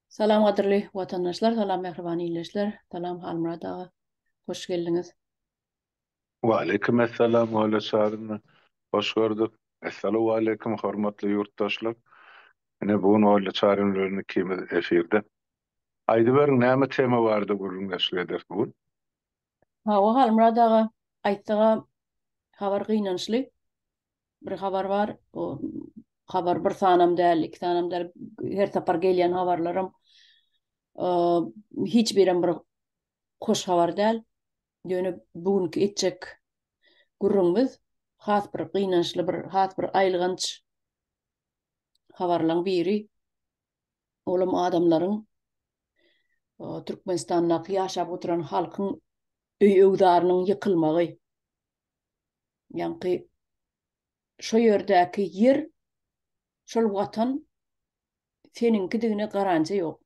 Salam gadyrly watandaşlar, salam mähriban ildeşler, salam Halmyrat aga, hoş geldiňiz. Waleýkim essalam Oýle Çaryny hoş gördük. Essalawaleýkim hormatly ýurtdaşlar. Ine bu gün Oýle Çaryn bilen ikimiz efirde. Aýdyberiň näme tema barada gürrüňdeşlik ederis bu gün? Hawa Halmyrat aga, aýtsaga habar gynançly. bir habar bar. O habar bir sanam däl, iki sanam däl. Her sapar gelýän habarlarym hiç birem bir hoş habar däl. Ýöne bu günki etjek gürrüňimiz has bir gynançly bir, has bir aýylganç habarlaryň biri. Olam adamlaryň Türkmenistandaky ýaşap oturan halkyň öý-öwzarynyň ýykylmagy. Ýaňky şo ýerdäki ýer, şol watan seniňkidigine garanja ýok.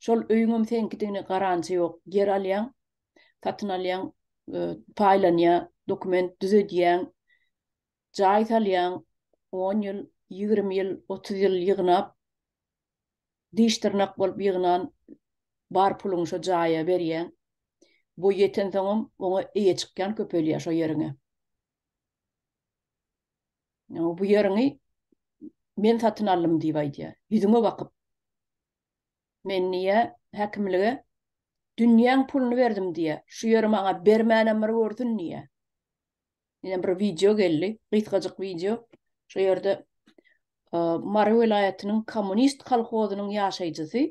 Şol öýüňem seniňkidigine garanja ýok. Ýer alýaň, satyn alýaň, e, paýlanýa, dokument düzedýäň, jaý salýaň, on ýyl, ýigrimi ýyl, otuz ýyl ýygnap, Diş-dyrnak bolup ýygnan bar puluňy şo jaýa berýäň. Boý ýetensoňam oňa eýe çykýan köpelýär şo ýeriňe. Ýa bu ýeriňi men satyn aldym diýip aýdýar. Ýüzüňe bakyp. Men diýýär, häkimlige dünýäň puluny berdim diýýär. Şu ýeri maňa bermänem bir görsün diýýär. Ýene bir wideo geldi, gysgajyk wideo. Şu ýerde Mary welaýatynyň kommunist kolhozynyň ýaşaýjysy,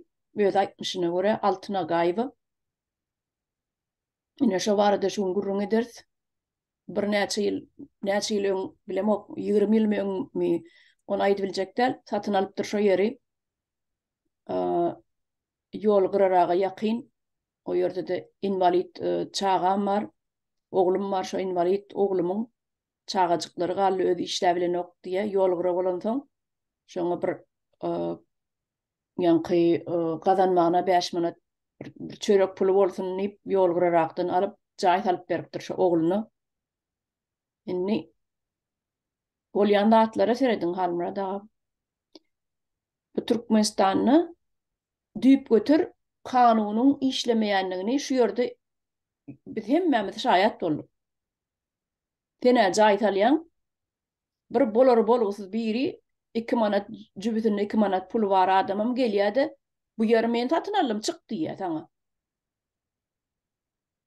öz aýtmyşyna görä Altyn Agaýewa. Ine şu barada şu gün gürrüň ederis. Birnäçe ýyl, näçe ýyl öň bilemok, 20 ýyl öňmi, ony aýdyp biljek däl, satyn alypdyr şu ýeri. Ýol gyraraga ýakyn. O ýerde-de inwalid çagam bar, oglum bar, şo inwalid oglumyň çagajyklary galdy, özi işläp bilenok diýýär. Ýol gyra bolansoň, şoňa bir ýaňky gazanmagyna bäş manat bir çörek puly bolsun diýip, ýol gyrarakdan alyp, jaý salyp beripdir şo ogluna. Indi bolýan zatlara serediň, Halmyrat aga. Bu Türkmenistanda düýpgöter kanunyň işlemeýändigini şu ýerde biz hemmämiz şaýat bolduk. Senä jaý salýaň, bir bolary-bolgusyz biri, iki manat, jübüsinde iki manat puly bar adamam gelýär-de, Bu ýeri men satyn aldym, çyk diýýär saňa.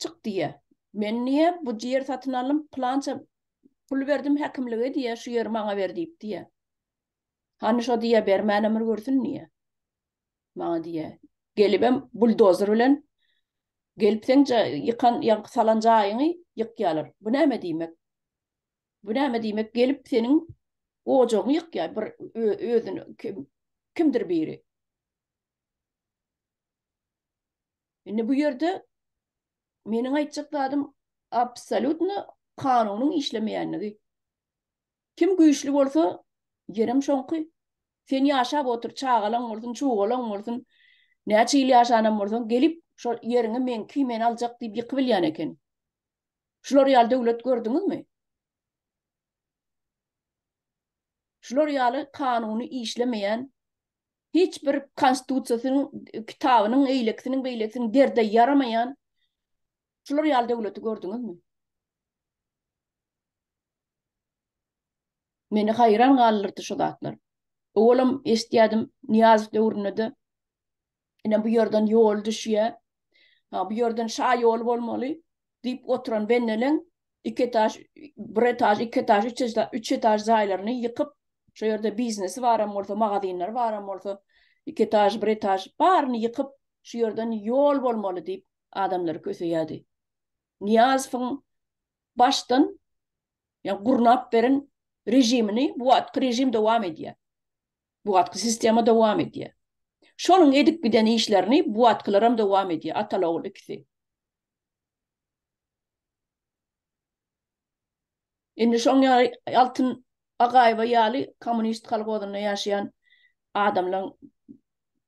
Çyk diýýä. Men diýýä, bu ýer satyn aldym, pylança pul berdim häkimlige diýýä, şu ýeri maňa ber diýip diýýä. Hany şo diýýä, bermän ömür görsün diýýä. Maňa diýýä, gelibem buldozer bilen gelip seň ýykan, ýaňky salan jaýyňy ýykýalar. Bu näme diýmek? Bu näme diýmek, gelip seniň ojagyňy ýykýar bir özüni kimdir biri. Indi bu ýerde meniň aýtjak zadym absolýutno kanunyň işlemeýänligi. Kim güýçli bolsa, ýerem şoňky. Sen ýaşap otur, çagalaň bolsun, çugalaň bolsun, näçe ýyl ýaşanam bolsaň, gelip şol ýeriňi meňki, men aljak diýip ýykybilýän ekeni. Şular ýaly döwlet gördüňizmi? Şular ýaly kanuny işlemeýän hiç bir konstitusiýasynyň kitabynyň eýlekisiniň beýlekisiniň derde ýaramaýan şular ýaly döwleti gördüňizmi? Meni haýran galdyrdy şu zatlar. Owalam eşitýärdim Niýazow döwründe-de ine bu ýerden ýol düşýär. Ha bu ýerden şa ýoly bolmaly. diýip oturan benneleň iki etaž, bir etaž, iki etaž, üç etaž, üç etaž jaýlaryny ýykyp, şo ýerde biznesi baram bolsa, magazinleri baram bolsa, iki etaž, bir etaž baryny ýykyp, şu ýerden ýol bolmaly diýip, adamlary köseýärdi. Nyýazowyň başdan, ýa gurnap beren režimini bu wagtky režim dowam edýär. Bu wagtky sistema dowam edýär. Şonuň edip giden işlerini bu wagtkylaram dowam edýär, atal-ogul ikisi. Indi şoň ýaly Altyn Agaýewa ýaly kommunist kolhozynda ýaşaýan adamlaň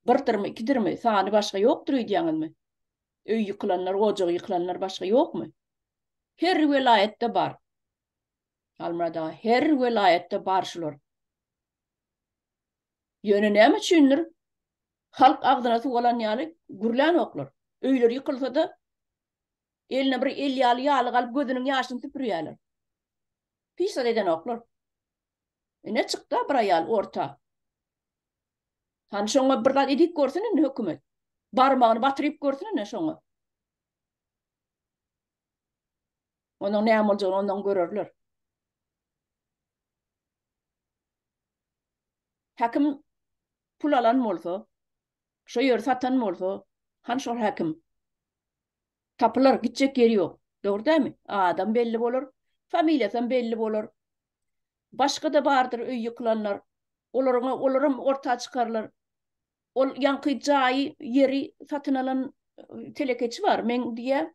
birdirmi, ikidirmi, sany başga ýokdur öýdýäňizmi? Öý ýykylanlar, ojagy ýykylanlar başga ýokmy? Her welaýatda bar. Halmyrat aga, her welaýatda bar şular. Ýöne näme üçindir, halk agzyna suw alan ýaly gürlänoklar. Öýleri ýykylsa-da, eline bir el ýaly ýalyk alyp gözüniň ýaşyny süpürýärler. Hiç zat edenoklar. Ine çykda bir aýal orta. Hany şoňa bir zat edip görsün indi hökümet. Barmagyny batyryp görsün indi şoňa. Onuň näme boljagyny ondan görerler. Häkim pul alan bolsa, şo ýeri satan bolsa, han şol häkim. Tapylar, gitjek ýeri ýok. Dogry dämi? Adam belli bolar, familiýasam belli bolar. Başga-da bardyr öý ýykylanlar. Olaryň, olaram orta çykarylar. Ol ýaňky jaýy, ýeri satyn alan telekeçi bar, meň diýýär,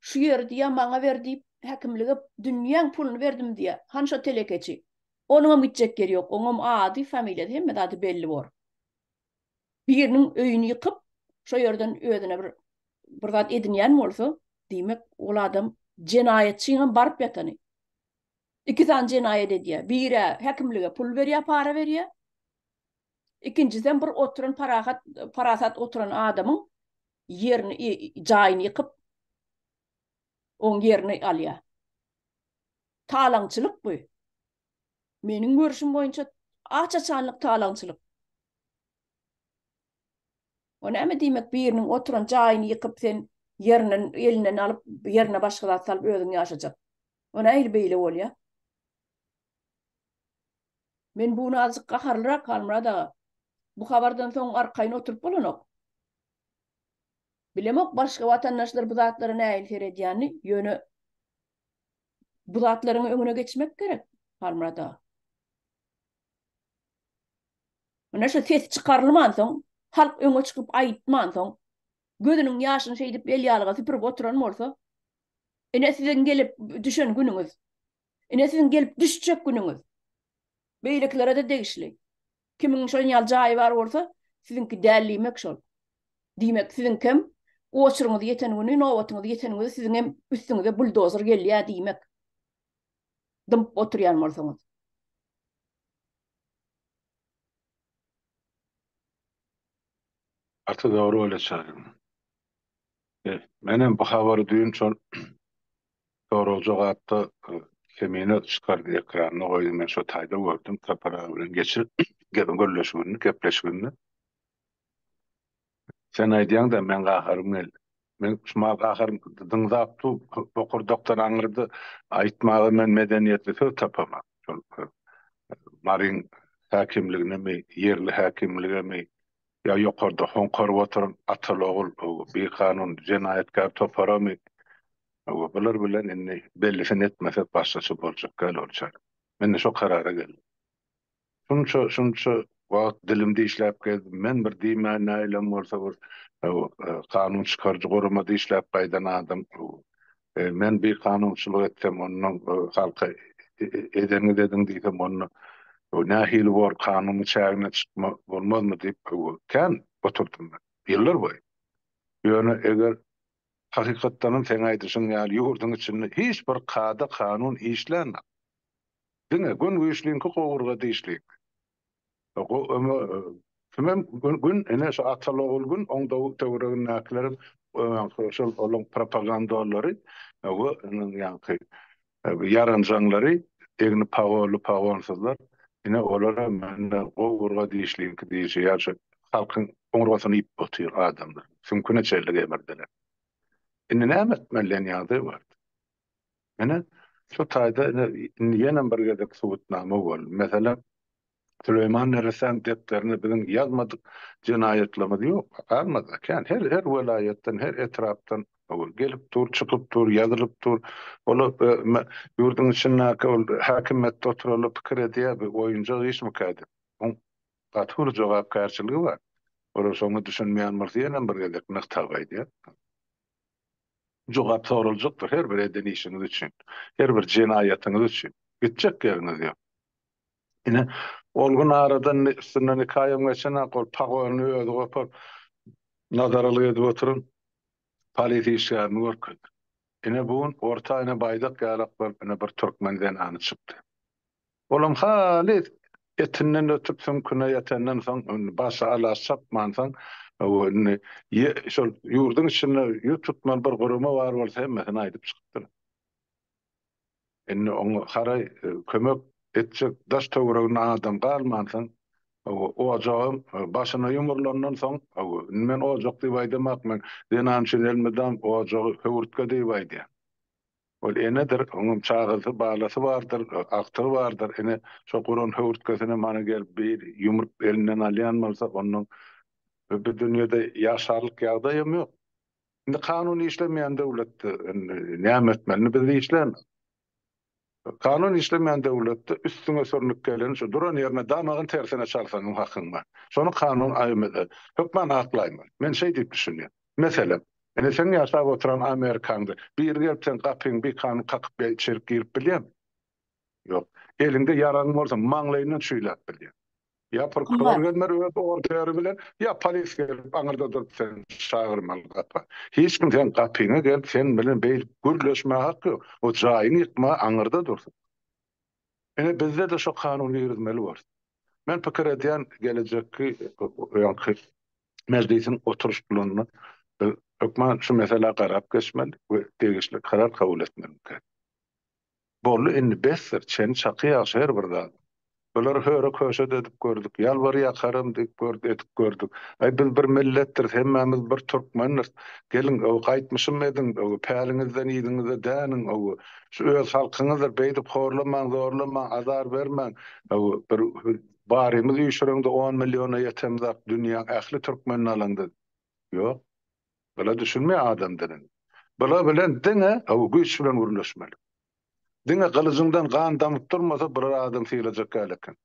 Şu ýeri diýýär, maňa ber diýip, häkimlige dünýäň puluny berdim diýýär. Hany şo telekeçi? Onuňam gitjek ýeri ýok. Oňam ady, familiýasy, hemme zady belli bor. Biriniň öýüni ýykyp, şo ýerden özüne bir bir zat edinýän bolsa, diýmek, ol adam jenaýatçynyňam baryp ýatany. Iki sany jenaýat edýär. Bir-ä häkimlige pul berýär, para berýär. Ikinjisem bir oturan parahat, parasat oturan adamyň ýerini jaýyny ýykyp oň ýerini alýa. Talaňçylyk bu. Meniň görüşim boýunça aç açanlyk talaňçylyk. O näme diýmek biriniň oturan jaýyny ýykyp sen ýerinden elinden alyp ýerine başga zat salyp özüň ýaşajak. O nähili beýle bolýa? Men bu nazyk gaharlyrak Halmyrat aga. Bu habardan soň arkaýyn oturyp bolanok. Bilemok başga watandaşlar bu zatlara nähili seredýänini, ýöne bu zatlaryň öňüne geçmek gerek Halmyrat aga. Mine şu ses çykarylman soň, halk öňe çykyp aýtman soň, gözüniň ýaşyny şeýdip el ýalga süpürip oturan bolsa, ine siziň gelip düşen günüňiz. Ine siziň gelip düşjek günüňiz. Beýlekilere-de degişli. Kimiň şoň ýaly jaýy bar bolsa, siziňki däl diýmek şol. Diýmek, siziňkem oçuryňyz ýeten güni, nobatyňyz ýeten güni siziňem üstüňize buldozer gelýär diýmek. Dymyp oturýan bolsaňyz. Gaty dogry bolýa çaýyň. Menem bu habary düýn şol Soralja gaty kemine çykardy ekranda goýdy men şo taýda gördüm Sapar aga bilen geçen gep gürleşigini gepleşigini Sen aýdýaňda men gaharym geldi men şumal gaharym dyňzap dur bokurdakdan aňyrda aýtmaga men medeniýetli söz tapamok şol Maryň häkimliginemi ýerli häkimligemi Ýa ýokarda hoňkaryp oturan ataly-ogul bikanun jenaýatkär toparamy? Bular bilen indi bellisini etmesek başgaça boljak däl onçaýly. Men-de şo karara geldim. Şunça, şunça wagt dilim dişläp gezdim. Men bir diýmän näilem bolsa bir kanun çykaryjy guramada işläp gaýdan adam. Men bir kanunçylyk etsem, onda halka edeniňizi ediň diýsem, onda nähili bor, kanunyň çägine çykma bolmazmy diýip kän oturdym men, ýyllar boýy. Ýöne eger hakykatdanam seň aýdyşyň ýaly ýurduň içinde hiç bir kada-kanun işlänok. Diňe gün güýçliňki gowurga dişliňki. Tümem gün ine şu Atalogul gün oň töweregindäkilerem ýaňky şol olaň propagandolary we iniň ýaňky ýaranjaňlary egni pagolly pagonsyzlar ine olara mende gowy urga dişliňki dişi ýa şu halkyň oňurgasyny iýip otyr adamlar süňküne çenli gemirdiler. Indi näme etmeli deniýadyr bardy. Ine, şu taýda ine, indi ýenem bir gezek subutnama boldy. Meselem, Süleýman Neresäň depderinde biziň ýazmadyk jenaýatlarymyz ýok. Azmada, kän. Her, her welaýatdan, her etrapdan ol gelip dur, çykyp dur, ýazylyp dur. Ola ýurduň içindäki ol häkimiýetde oturanlar pikir edýär, bu oýunjak işmikä diýip. Oň gaty uly jogapkärçiligi bar. Olar şoňa düşünmeýän bolsa ýenem bir gezek nygtap aýdýan. Jogap soraljakdyr her bir eden işiňiz üçin, her bir jenaýatyňyz üçin. Gitjek ýeriňiz ýok. Ine, ol gün aradan üstünden iki aýam geçenak ol pagonyny özi gopup, nazarlyk edip oturan polis işgärini görkezdi. Ine, bu gün orta ene baýdak ýalak bolup, ine, bir türkmen zenany çykdy. Olam halys etinden ötüp süňküne ýetenden soň başy alaç çapmansoň indi şol ýurduň içinde ýüz tutmaly bir gurama bar bolsa hemmesine aýdyp çykypdyr. Indi oňa haraý kömek etjek daş töwereginde adam galmansoň ojagam başyna ýumrulandan soň indi men ojak diýip aýdamak men zenan üçin elmydam ojagy höwürtge diýip aýdýan. Ol enedir, oňam çagasy, balasy bardyr, agtygy bardyr. Ine, şo guran höwürtgesine mana gelip bir ýumrup elinden alýan bolsa, ondan bu dünýede ýaşarlyk ýagdaýam ýok. Indi kanun işlemeýän döwletde indi näme etmeli? Indi biz işlämok. Kanun işlemeýän döwletde üstüňe sürnüp gelen şu duran ýerine damagyň tersine çalsaňam hakyň bar. Şony kanun aýymyza hökman aklaýmaly. Men şeý diýip düşünýän. Meselem, indi seň ýaşap oturan Amerikaňda biri gelip seň gapyňy bikanun kakyp ýa içerik girip bilýämi? Ýok. Eliňde ýaragyň bolsa maňlaýyndan çüýläp bilýär. Ýa prokuror gelmeli öz orderi bilen, ýa polis gelip aňyrda durup seni çagyrmaly gapa. Hiç kim seň gapyňa gelip sen bilen beýle gürleşmäge hakky ýok. O jaýyňy ýykmaga aňyrda dursun. Ine bizde-de şo kanuny girizmeli bor. Men pikir edýän gelejekki bu ýaňky mejlisiň oturyş planynda biz hökman şu meselä garap geçmeli we degişli karar kabul etmelika. Boldy indi besdir çeni çaky ýagşy her bir zat. Bular höre köşet edip gördük, ýalbar ýakaram diýip gördük edip gördük. Aý biz bir milletdiris hemmämiz bir türkmendiris. Geliň öw gaýtmyşym ediň öw päliňizden yzyňyza däniň öw. Şu öz halkyňyzdyr, beýdip horlamaň, zorlamaň, azar bermäň. Bir barymyz üýşüreňde on milliona ýetemzak, dünýäň ähli türkmenini alaňda. Ýok. Bula düşünmeýär adam dilini. Bular bilen diňe güýç bilen gürleşmeli. Diňe gylyjyňdan gan damyp durmasa bular adam sylajak däl eken.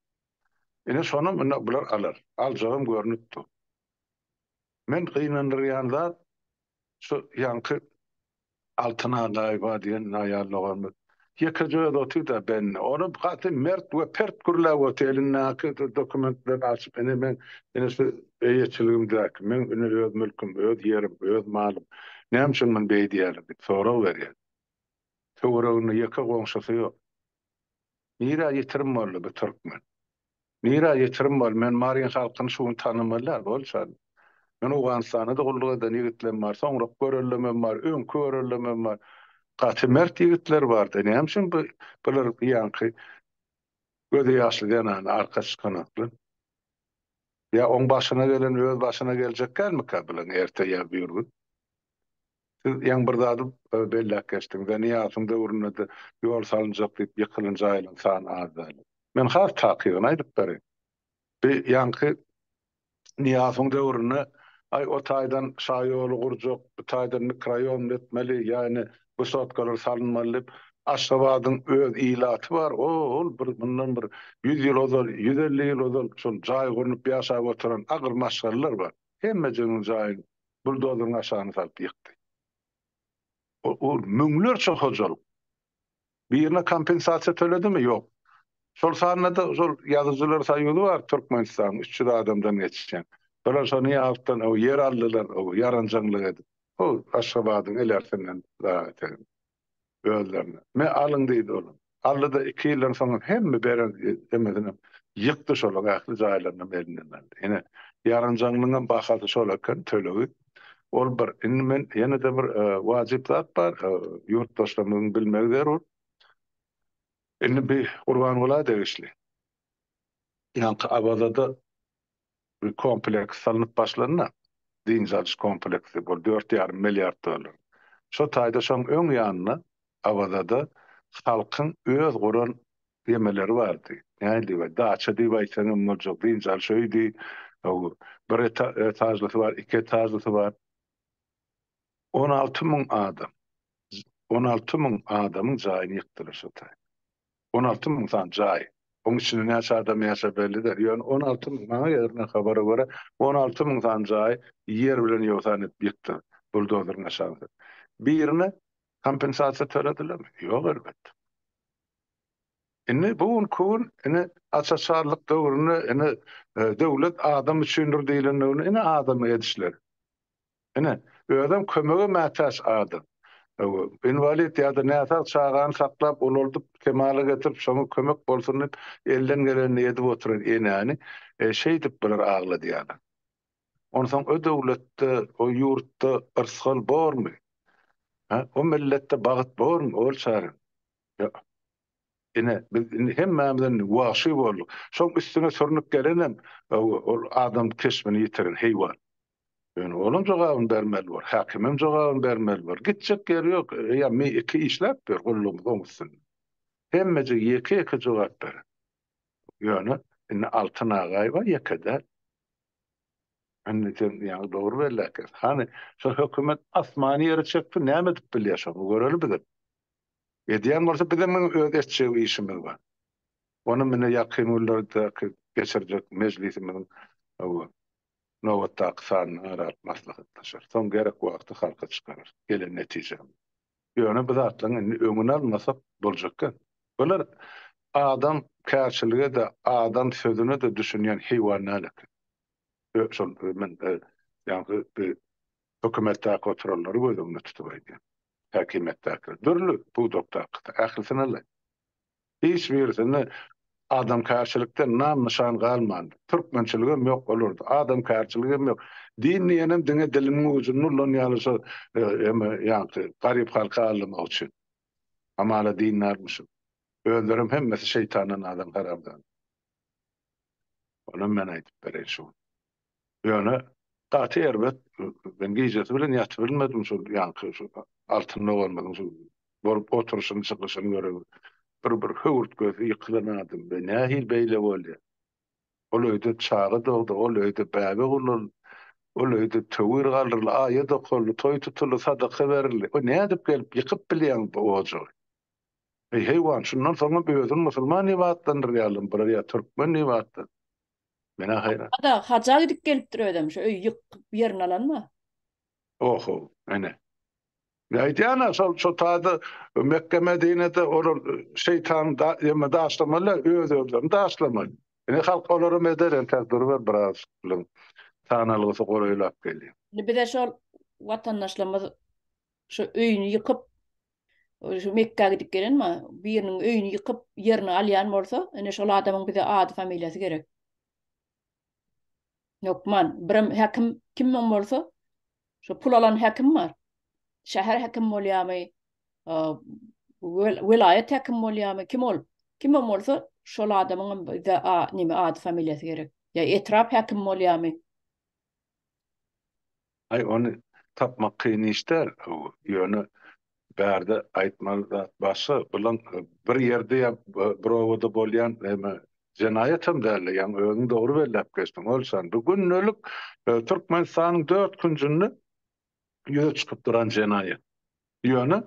Ine şonam indi bular alar. Aljagam görnüp dur. Men gynandyrýan zat şu ýaňky Altyn Agaýewa diýen naýar doganymyz. Ýekeje özi otyrda bendi. Ony gaty mert we pert gürläp otyr. Elindäki şu dokumentlerini açyp, ine men, ine şu eýeçiligimdäki, meň ine öz mülküm, öz ýerim, öz malym. Näme üçin muny beýdýäler diýip sorag berýär. Töwereginde ýeke goňşusy ýok. Nirä ýitirim boldy bu türkmen? Nirä ýitirim boldy? Men Maryn halkyny şu gün tanaman däl, bolçady. Men Owganystanda-da gulluk eden ýigitlem bar, soňrak göreldemem bar, öňki göreldemem bar. Gaty mert ýigitler bar-da, näme üçin bu bular bu ýaňky gözi ýaşly zenana arka çykanaklar? Ýa oň başyna gelen öz başyna geljek dälmikä bulaň erte ýa bir gün? Siz ýaňy bir zady belläp geçdiňiz, ýagny Ýasyň döwründe-de ýol salynjak diýip ýykylan jaýlaryň sany az däl. Men has takygyny aýdyp bereyim. Bi ýaňky Nyýasowyň döwründe aý o taýdan şa ýoly gurjak, bu taýdan mikroýom etmeli, ýagny wysotkalar salynmaly diýip, Aşgabadyň öz ilaty bar, o-ol bir mundan bir ýüz ýyl ozal, ýüz elli ýyl ozal şol jaý gurnup ýaşap oturan agyr maşgalalar bar. Hemmejiginiň jaýyň buldozeryň aşagyna salyp ýykdy. Ol müňlerçe hojalyk birine kompensasiýa töledimi? Ýok. Şol sanda-da şol Ýazyjylar soýuzy bar Türkmenistanyň, üç ýüz adamdan geçýän. Olar şony ýapdan ýer aldylar, ýaranjaňlyk edip. Hol Aşgabadyň ilersinden dagy telim. özlerine. Me, alyň diýdi olam. Aldy-da, iki ýyldan soňam hemme beren demesinem ýykdy şolar ähli jaýlaryny elinden aldy. Ine, ýaranjaňlygyňam bahasy şol eken, tölegi. Ol bir. Indi men ýene-de bir wajyp zat bar, ýurtdaşlarymyzyň bilmegi zerur. Indi bi Gurbangula degişli. Ýaňky Awazada Bu kompleks salnyp başlanda, dynç alyş kompleksi, ol dört ýarym milliard dollar. Şo taýda şoň öň ýanynda Awazada halkyň öz guran gemeleri bardy. Nähili we daça diýip aýtsaň hem boljak, dynç alyş öýdi. Bir etažlysy bar, iki etažlysy bar. On alty müň adam, on alty müň adamyň jaýyny ýykdylar şo taýda. On alty müň sany jaý. Oň içinde näçe adam ýaşar belli däl. Ýöne on alty müň, maňa ýetilen habara görä, on alty müň sany jaý ýer bilen ýogsan edip ýykdylar buldozeriň aşagynda. Birine kompensasiýa töledilermi? Ýok elbetde. Indi bu gün ku gün indi açaçarlyk döwründe indi döwlet adam üçindir diýlendigini indi adamy edişleri. Ine, özem kömege mätäç adam. Inwalid ýa-da näsag çagany saklap, ulaldyp, kemala getirip, şoňa kömek bolsun diýip, elden gelenini edip oturan enäni şeýdip bular agladýarlar. Onsoň o döwletde, o ýurtda yrsgal bormy? Hä? O milletde bagt bormy? Ol çaga. Ýok. Ine, biz indi hemmämiz indi wagşy bolduk. Şoň üstüne sürnüp gelenem ol adam keşbini ýitiren heýwan. Ýöne olam jogabyny bermeli bor, häkimem jogabyny bermeli bor. Gitjek ýeri ýok. Eýýäm mi iki işläp ýör gullugymyzyň üstünde. Hemmejik ýeke-ýeke jogap berer. Ýöne indi Altyn Agaýewa ýeke däl. Indi sen ýaňy dogry belläp geldiň. Hany, şu hökümet asmany ýere çekdi, näme edip bilýär şony göreli bizem. Edýän bolsa bizem muny öz etjek işimiz bar. Ony mine ýakyn günlerdäki geçirjek mejlisimiziň Nobatdaky sanyny ara alyp maslahatlaşar. Soň gerek wagty halka çykarar. Gelen netijäm. Ýöne bu zatlaryň indi öňüni almasak boljak gep. Bular adam kärçilige-de, adam sözüne-de düşünýän heýwan däl eken. Şol men ýaňky hökümetdäki oturanlary göz öňüne tutup aýdýan. Häkimiýetdäkiler. Dürli pudakdaky. Ählisini alaý. Hiç birisinde adamkärçilikden nam-nyşan galmandy. Türkmençiligem ýok olarda, adamkärçiligem ýok. Din diýenem diňe diliniň ujunda ulan ýaly şo eme ýagty, garyp halky aldamak üçin. Hamala dindarmyşyn. Özlerem hemmesi şeýtandan adam haramzada. Onam men aýdyp bereýin şuny. Ýöne gaty erbet, men gijesi bilen ýatybilmedim şol ýaňky şu Altyn doganymyzyň şu bolup oturyşyny, çykyşyny görüp, bir bir höwürtgesi ýykylan adam we nähili beýle bolýar? Ol öýde çaga dogdy, ol öýde bäbek ululdy, ol öýde töwir galdyryldy, aýa dokaldy, toý tutuldy, sadaka berildi. Bu nädip gelip ýykyp bilýäň bu ojagy? Eý, heýwan, şundan soňam özüni musulman diýip atlandyrýarlar, bular ýa türkmen diýip atlandy. Menä haýran. Ada haja gidip gelipdir özem şu öýi ýykyp ýerini alanma. Oho, ene. Men aýdýan-a şol şo taýda Mekge Medinede olar şeýtan da ýeme daşlamaly öz özlerini daşlamaly. Ine halk olaram eder entek duruber biraz bilen sanalgysy golaýlap gelýär. Indi bize şol watandaşlarymyz Şu öýüni ýykyp, şu Mekgä gidip gelen ma, biriniň öýüni ýykyp, ýerini alýan bolsa, ine şol adamyň bize ady, familiýasy gerek. Hökman, birem häkim kimem bolsa, şu pul alan häkim bar. Şäher häkim bolýamy, welaýat häkim bolýamy, kim ol? Kimem bolsa, şol adamyňam bize a, neme, ady, familiýasy gerek. Ýa etrap häkim bolýamy? Aý ony tapmak kyn iş däl ýöne bärde aýtmaly zat başga bulan bir ýerde ýa bir obada bolýan eme jenaýatam dälde ýaňy özüň dogry belläp geçdiň Olşan bu gündelik Türkmenistanyň dört künjünde ýüze çykyp duran jenaýat ýöne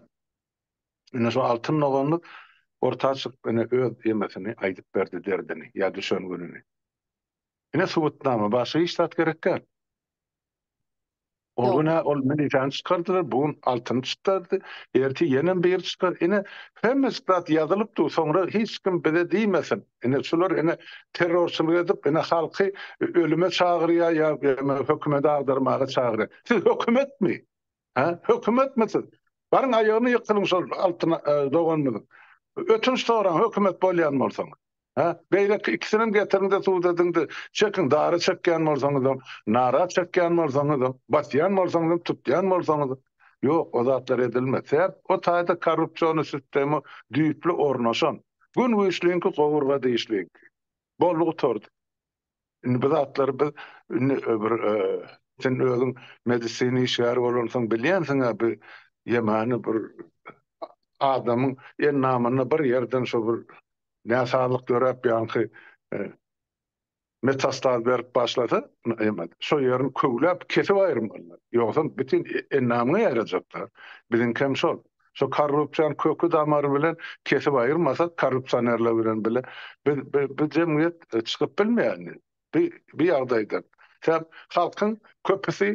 ine şu Altyn doganly orta çykyp ine öz emesini aýdyp berdi derdini ýa düşen gününi. Ine subutnama başga hiç zat gerek däl. Ol günä ol milisiýany çykardylar, bu gün altyny çykdardy, ertir ýenem biri çykar. Ine hemme zat ýazylyp dur, soňra hiç kim bize diýmesin. Ine şular ine terrorçylyk edip ine halky ölüme çagyrýar ýa hökümeti agdarmaga çagyrýar. Siz hökümetmi? Hä? Hökümetmi siz? Baryň aýagyny ýykylyň şol Altyn doganymyzyň. Ötünç soraň hökümet bolýan bolsaňyz. Hä? Beýleki ikisinem getiriňde sud ediňde çekiň dara çekýän bolsaňyzam, nara çekýän bolsaňyzam, basýan bolsaňyzam, tutýan bolsaňyz. Ýok, o zatlar edilmez. Sebäp o taýda korrupsiony sistema düýpli ornaşan. Gün güýçliňki gowurga dişliňki. Boldy gutardy. Indi bu zatlary biz indi bir sen özüň medisina işgäri bolansoň bilýänsiň-ä bu ýemany bir adamyň endamynda bir ýerden şo bir näsazlyk döräp ýaňky metastaz berip başlasa şo ýerini köwläp kesip aýyrmalylar. Ýogsam bütin endamyňa ýaýrajaklar. Biziňkem şol. Şu korrupsiýany köki damary bilen kesip aýyrmasak korrupsionerler bilen bile biz bu jemgyýet çykyp bilmeýärdi bu ýagdaýdan. Sebäp halkyň köpüsi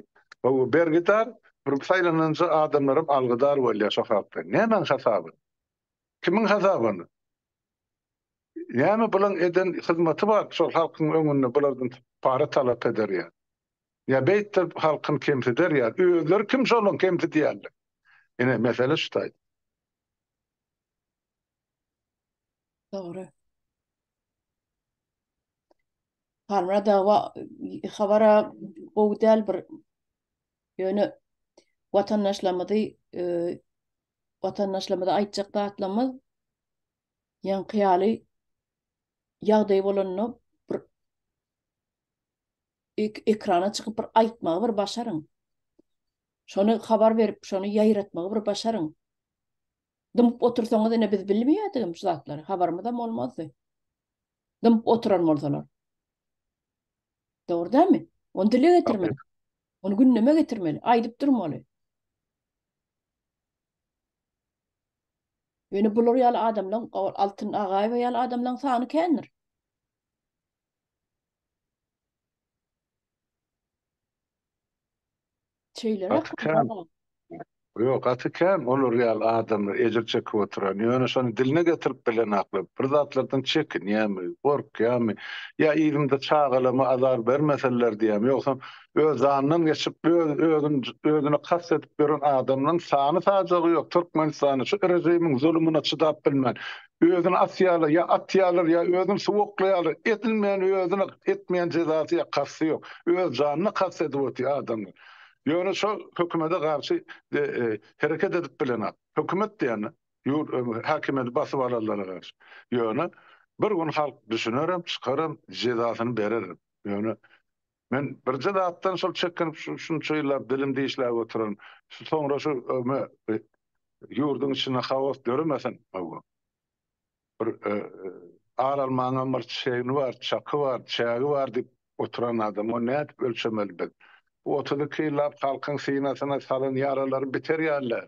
bergidar bir saýlananja adamlaram algydar bolýar şo sebäpden. Nämäň hasabyna? Kimiň hasabyna? Näme bulaň eden hyzmaty bar şol halkyň öňünde bulardan para talap eder ýa. Ýa beýtde halkyny kemsider ýa özleri kim şolyň kemsidýänler. Ine mesele şu taýda. Dogry. Harmra dawa habara gowy däl bir ýöne watandaşlarymyzy watandaşlarymyza aýtjak zatlarymyz ýaňky ýaly ýagdaý bolanda bir ekrana çykyp bir aýtmagy bir başaryň. Şony habar berip, şony ýaýratmagy bir başaryň. Dymyp otursaňyz ine biz bilmeýärdigim şu zatlary, habarymyzam bolmazdy. Dymyp oturan bolsalar. Dogry dämi? Onu dile getirmeli. Onu gündeme getirmeli, aýdyp durmaly. Ýöne bular ýaly adamlaryň, Altyn Agaýewa ýaly adamlaryň sany kändir. Gaty kän. Ýok, gaty kän olar ýaly adam ejir çekip oturan. Ýöne şony diline getirip bilenaklar. Bir zatlardan çekinýärmi, gorkýarmy? Ýa yzymda çagalama azar bermeseler diýýärmi? Ýogsam, öz zanyndan geçip, öz-özün özüne kast edip ýören adamlaryň sany-sajagy ýok. Türkmenistanda şu rejimiň zulumyna çydap bilmän, Özüni asýarlar, ýa atýarlar, ýa özüni suwa oklaýarlar. Edilmän özüne, etmän jezasy ýa kasty ýok. Öz janyna kast edip otyr adamlar. Ýöne şo hökümede garşy hereket edip bilenok. Hökümet diýende ýurt häkimiýeti basyp alanlara garşy. Ýöne bir gün halk düşünerem, çykarem, jezasyny bererem. Ýöne Men birje zatdan şol çekinip şu şunça ýyllap dilim dişläp oturan. Şu soňra şu me e, ýurduň içinde haos döremesin. Hawa. Bir e, e, ar almaňam bir çegni bar, çaky bar, çägi bar diýip oturan adam. O nädip ölçemeli biz? Bu 32 ýyllap halkyň synasyna salan ýaralary biter ýaly.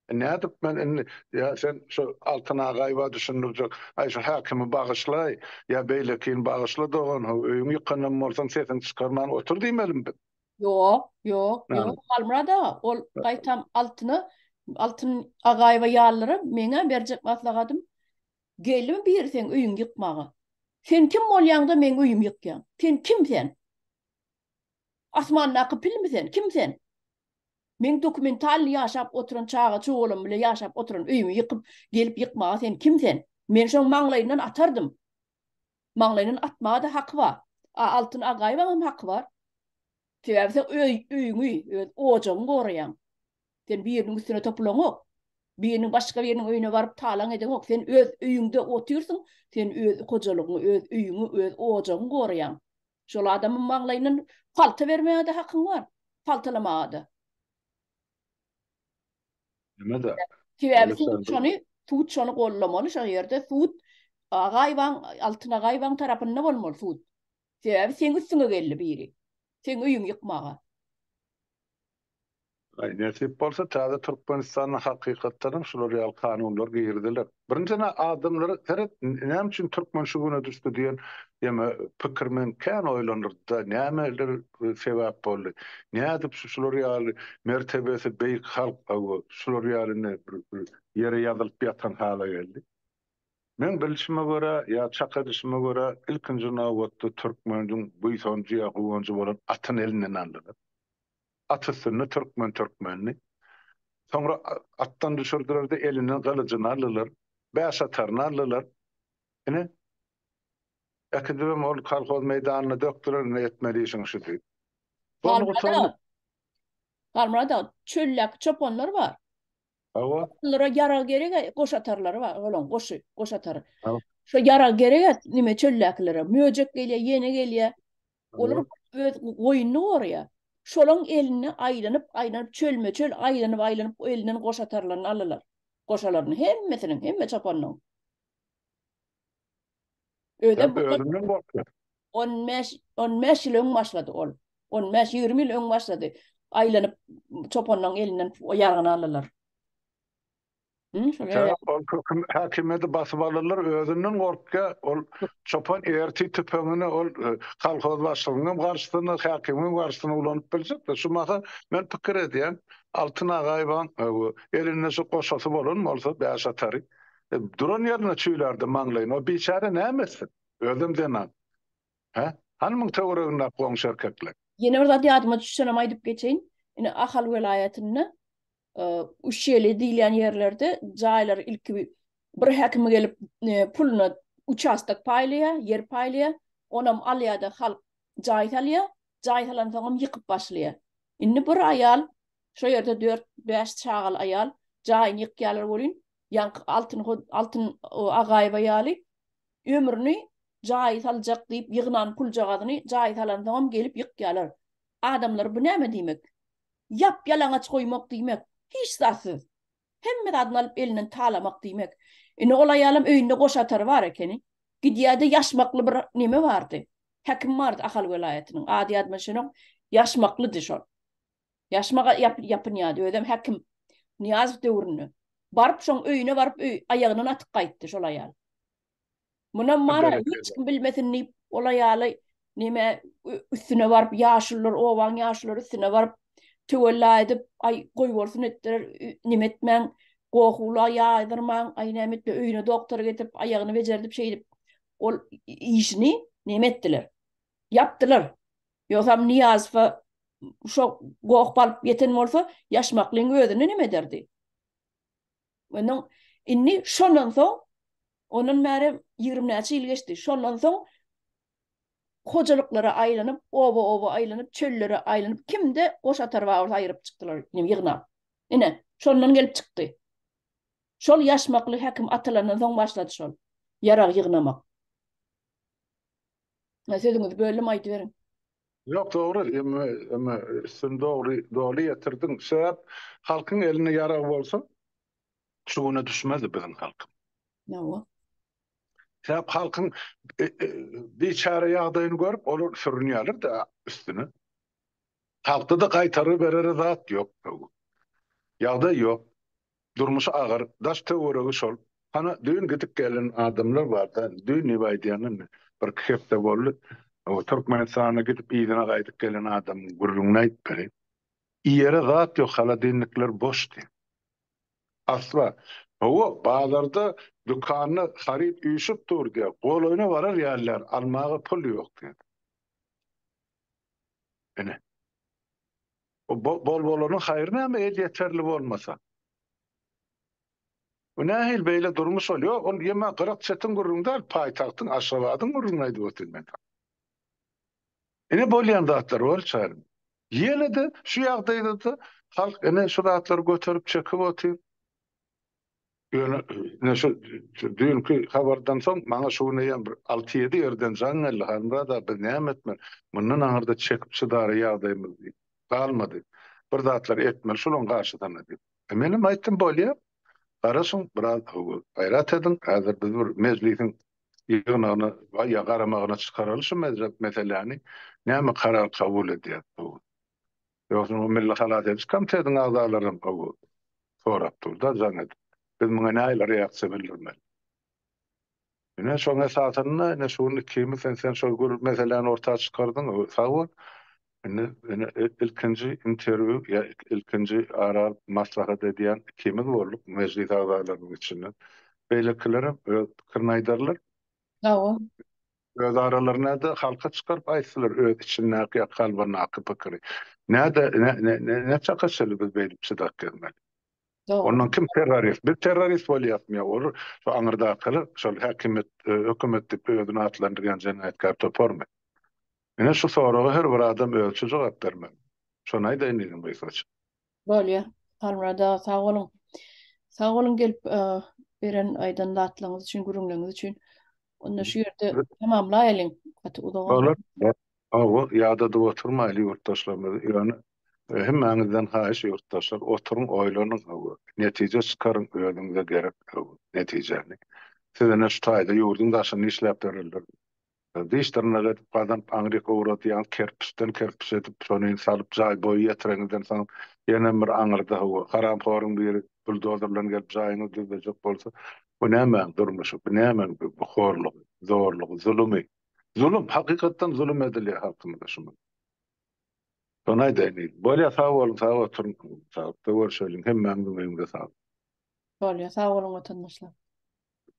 Nädip men indi, ýa sen şu Altyn agaýba düşündirjek, aý şu häkimi bagyşlaý, ýa beýlekini bagyşla dogan how, öýüň ýykanam bolsaň sesiňi çykarman otur diýmelimi biz? Ýok, ýok, ýok, Halmyrat aga, ol gaýtam Altyna, Altyn agaýba ýalylara meň-ä berjek maslahatym, Geldim biri seň öýüňi ýykmaga. Sen kim bolýaň-da meň öýümi ýykýaň? Sen kim sen? Asmandaky pilmi sen? Kim sen? Meň dokumentalny ýaşap oturan çaga çogalam bilen ýaşap oturan öýümi ýykyp gelip ýykmaga sen kim sen? Men şoň maňlaýyndan atardym. Maňlaýyndan atmaga-da haky bar. A Altyn Agaýewaňam haky bar. Sebäbi sen öý öýüňi, öz ojagyňy goraýaň. Sen biriniň üstüne topulaňok. Biriniň başga biriniň öýüne baryp talaň edeňok. Sen öz öýüňde otyrsyň, sen öz hojalygyňy, öz öýüňi, öz ojagyňy goraýaň. Şol adamyň maglaýyndan palta bermäge-de hakyň bar, paltalamaga-da. Näme-de? Sebäbi sud şony, sud şony goldamaly, şo ýerde sud Agaýewaň, Altyn Agaýewaň tarapynda bolmaly sud. Sebäbi seň üstüňe geldi biri. Seň öýüňi ýykmaga. Nesip bolsa täze Türkmenistanda hakykatdan hem şular ýaly kanunlar giriziler. Birinjiden adamlara seret näme üçin türkmen şu güne düşdi diýen ýeme pikir meni kän oýlandyrdy-da, nämeler sebäp boldy. Nädip şu şular ýaly mertebesi beýik halk hawa şular ýaly indi bir ýere ýazylyp ýatan hala geldi. Meň bilşime görä ýa çak edişime görä ilkinji nobatda türkmeniň buýsanjy ýa guwanjy bolan atyny elinden aldylar. At üstünde türkmen türkmendi. Soňra atdan düşürdiler-de, elinden gylyjyny aldylar. Bäş ataryny aldylar. Ine, äkidibem ol kolhoz meýdanyna dökdüler, ine, etmeli işiň şu diýip. Galmyrat aga, Galmyrat aga, çöldäki çopanlar bar. Hawa. Olara ýarag gerek-ä, goş atarlary bar, olaň goşy, goş atary. Şo ýarag gerek-ä, nime, çöldäkilere. Möjek gelýär, ýene gelýär. Olar öz goýnuny gorýar. Şolaň elinde aýlanyp, aýlanyp çölme çöl aýlanyp, aýlanyp elinden goşa tarlaryny alalar. Goşalaryny hemmesiniň, hemme çopanyň. Özem bu özünden gorkýar. 15 15 ýyl öň başlady ol. 15 20 ýyl öň başlady. Aýlanyp çopanyň elinden ýargyny alalar. Sebäp ol köküm häkimiýeti basyp alyrlar, özünden gorkýa, ol çopan ertir tüpeňini ol kolhoz başlygynyň garşysyna, häkimiň garşysyna ulanyp biljek-de. Şu mahal men pikir edýän, Altyn agaýewiň elinde şu goşasy bolan bolsa bäş atary duran ýerinde çüýlärdi maňlaýyny. O biçäre näme etsin? Özem zenan. Hä? Hany muň töweregindäki goňşy erkekler? Ýene bir zat ýadyma düşsenem aýdyp geçeýin. Ine Ahal welaýatynda Uşeli diýilýän ýerlerde jaýlar ilki bir häkim gelip e, puluna uçastak paýlaýa, ýer paýlaýa, onam alýada halk jaý salýa, jaý salan soňam ýykyp başlaýa. Indi bir aýal şo ýerde 4-5 çagaly aýal jaýyny ýykýarlar welin, ýaňky Altyn Altyn Agaýewa ýaly ömrüni jaý saljak diýip ýygnan puljagazyny jaý salan soňam gelip ýykýarlar. Adamlar bu näme diýmek? Ýap-ýalaňaç goýmak diýmek, hiç zatsyz, hemme zadyny alyp elinden talamak diýmek. Indi ol aýalam öýünde goş atary bar ekeni. Gidýärdi, ýaşmakly bir neme bardy. Häkim bardy Ahal welaýatynyň. Ady ýadyma düşenok. Ýaşmaklydy şol. Ýaşmak ýapynýady. Özem häkim. Nyýazow döwründe. Baryp şoň öýüne baryp öý aýagyndan atyp gaýtdy şol aýal. Munam bar, hiç kim bilmesin diýip, ol aýaly neme üstüne baryp, ýaşulylar, obaň ýaşulary üstüne baryp, töwella edip, aý, goýbolsun etdiler, neme etmäň, gohula ýaýdyrmaň, aý, näme etdi, öýüne doktory getirip, aýagyny bejerdip, şeýdip, ol işini neme etdiler, ýapdylar. Ýogsam Nyýazowa şo goh balyp ýeten bolsa, ýaşmaklyň özüni neme ederdi? Ondan indi şondan soň ondan bäri 20 näçe ýyl geçdi. Şondan soň hojalyklara aýlanyp, oba-oba aýlanyp, çöllere aýlanyp, kimde goş atar bar bolsa aýryp çykdylar, ýene ýygnap. Ine, şondan gelip çykdy. Şol ýaşmakly häkim atylandan soň başlady şol ýarag ýygnamak. Sözüňizi böldüm, aýdyberiň. Ýok dogry emmi emmi üstüni dogry doly ýetirdiň sebäp halkyň elinde ýarag bolsa şu güne düşmezdi biziň halk. Ýowa. Sebäp halkyň e, e, biçare ýagdaýyny görüp olar sürünýärler de üstüne. Halkda da gaýtary berere zat ýok. Ýagdaý ýok. Durmuşy agyr, daş-töweregi şol. Hana, düýn gidip gelen adamlar barda, düýn nebe aýdýanynda, birki hepde boldy, o Türkmenistana gidip yzyna gaýdyp gelen adamyň gürrüňini aýt beri. Iýere zat ýok, holodilnikler boşdy. Asla. Hawa, bazarda, dükanda haryt üýşüp dur diýýä, golaýyna barar ýalylar, almaga pul ýok diýýä. Ine. Bol bolanyň haýry näme el ýeterli bolmasa. Bu nähili beýle durmuş ol ýok ol ýeme gyrak çetiň gürrüňi däl paýtagtyň Aşgabadyň gürrüňini aýdyp otyryn men saňa. Ine bolýan zatlar bolup çaýar. Ýene-de şu ýagdaýda-da halk ine şu zatlary göterip çekip otyr. Ýöne ine şu düýnki habardan soň maňa şu gün eýýäm bir alty-ýedi ýerden jaň geldi, Halmyrat aga, biz näme etmeli? Mundan aňyrda çekip-çydara ýagdaýymyz diýip, galmady. Bir zatlar etmeli şolaryň garşysyna diýip. E, menem aýtdym, bolýa. Garaşyň, biraz gaýrat ediň. Häzir biz bir mejlisiň ýygnagyna ýa garamagyna çykaraly şu meseläni. Näme karar kabul edýäs bu gün. Ýogsam o Milli halas ediş komitetiniň agzalary hem gowy sorap dur-da, jaň edip. Biz muňa nähili reaksiýa bildirmeli? Ine, şoň esasynda, ine, şu gün ikimiz hem sen şol gür meseläni orta çykardyň, sag bol. Indi, ine, ilkinji interwýu, ýa ilkinji ara alyp maslahat edýän ikimiz bolduk mejlis agzalarynyň içinden. Beýlekiler hem öz pikirini aýdarlar. Sag bol. Öz aralarynada halka çykaryp aýtsylar öz içindäki ýa kalbyndaky pikiri. Näde näçe kaçyly biz beýdip çydak gezmeli. Ondan kim terrorist? Biz terrorist bolýarmy ýa ol şu aňyrdakylar şol häkimiýet hökümet diýip özüni atlandyrýan jenaýatkär toparmy? Ine şu soraga her bir adam özüçe jogap bermeli. Şony aýdaýyn diýdim gysgaça. Bolýa Halmyrat aga sag boluň. Sag boluň gelip beren aýdan zatlaryňyz üçin gürrüňleriňiz üçin. Onda şu ýerde tamamlaýalyň gaty uzak boldy. Bolar. Hawa ýadadyp oturmaýly ýurtdaşlarymyzy ýöne hemmäňizden haýyş ýurtdaşlar oturyň oýlanyň hawa netije çykaryň özüňize gerek hawa netijäni. Siz ine şu taýda ýurduň daşynda işläp bererler. Diş-dyrnak edip gazanyp aňryk owradýaň, kerpiçden kerpiç edip, şony salyp jaý boýy ýetireňizden soň ýenem bir aňyrda hawa, haramhoryň biri buldozer bilen gelip jaýyňyzy düzlejek bolsa, bu nämäň durmuşy, bu nämäň bu horlugy, zorlugy, zulumy? Zulum, hakykatdan zulum edilýär halkymyza şu gün. Şony aýdaýyn diýdim. Bolýar, sag boluň, sag oturyň. Saglyklda görşeliň. Hemmäňiziň öýüňize saglyk. Bolýar, sag boluň watandaşlar.